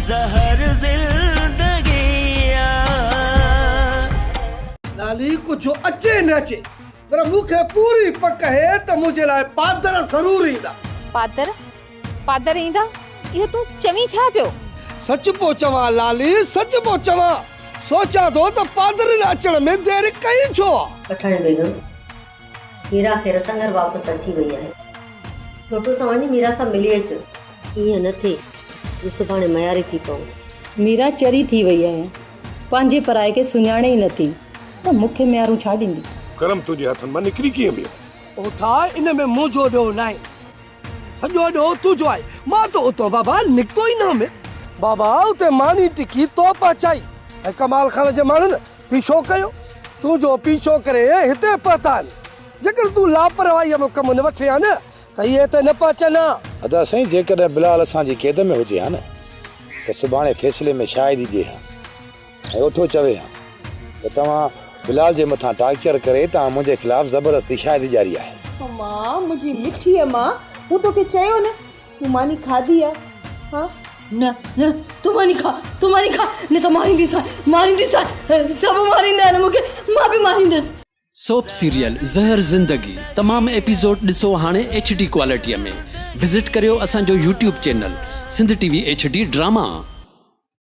زهر زندگيء جو. لالي ڪجهه اچي نه اچي پر مون کي پوري پڪ اهي ته منهنجي لاء پادر ضرور ايندا. پادر؟ پادر ايندا؟ اهو تون چوين ڇا پيو؟ سچ پيو چوان لالي، سچ پيو چوان. سوچان ٿو ته پادرين اچڻ ۾ دير ڪئي ڇو آ؟ پٺاڻي بيگم، ميرا خير سان گهر واپس اچي وئي آهي. ڇوٽو سان وڃ ميرا سان ملي اچ. ائين نه ٿئي جو سڀاڻي مياري ٿي پئون. ميرا چري ٿي وئي آهي. پنهنجي پرائي کي سڃاڻي ئي نه ٿي ته مون کي ميارون ڇا ڏيندي. ڪرم تنهنجي هٿن مان نڪري ڪيئن ويو. او ٺاء ان ۾ منهنجو ڏوهه ناهي. سڄو ڏوهه تنهنجو آهي. مان ته اتان بابا نڪتو ئي نه هئم. بابا اتي ماني ٽڪي تو پهچائي ۽ ڪمال خان جي ماڻهن پيڇو ڪيو، تون جو پيڇو ڪري هتي پهتا آهن، جيڪڏهن تون لاپرواهيء ۾ ڪم نه وٺين ها نه ته اهي هتي نه پهچن ها. ادا سائين جيڪڏهن بلال اسان جي قيد ۾ هجي ها نه ته سڀاڻي فيصلي ۾ شاهدي ڏي ها ۽ اٺو چوي ها ته توهان بلال جي مٿان ٽارچر ڪري توهان منهنجي خلاف زبردستي شاهدي ڏياري آهي. امان منهنجي مٺيء مان مون توکي چيو نه تون ماني کاڌي آ ها. نه نه تون ماني کا تون ماني کا نه ته مارينديسان مارينديسان سڀ ماريندا آهن مونکي مان به ماريندس. سوپ سيريل زهر زندگي تمام ايپيسوڊ ڏسو هاڻي ايڇ ڊي ڪوالٽيء ۾ وزٽ ڪريو اسان جو YouTube channel Sindh T V H D drama.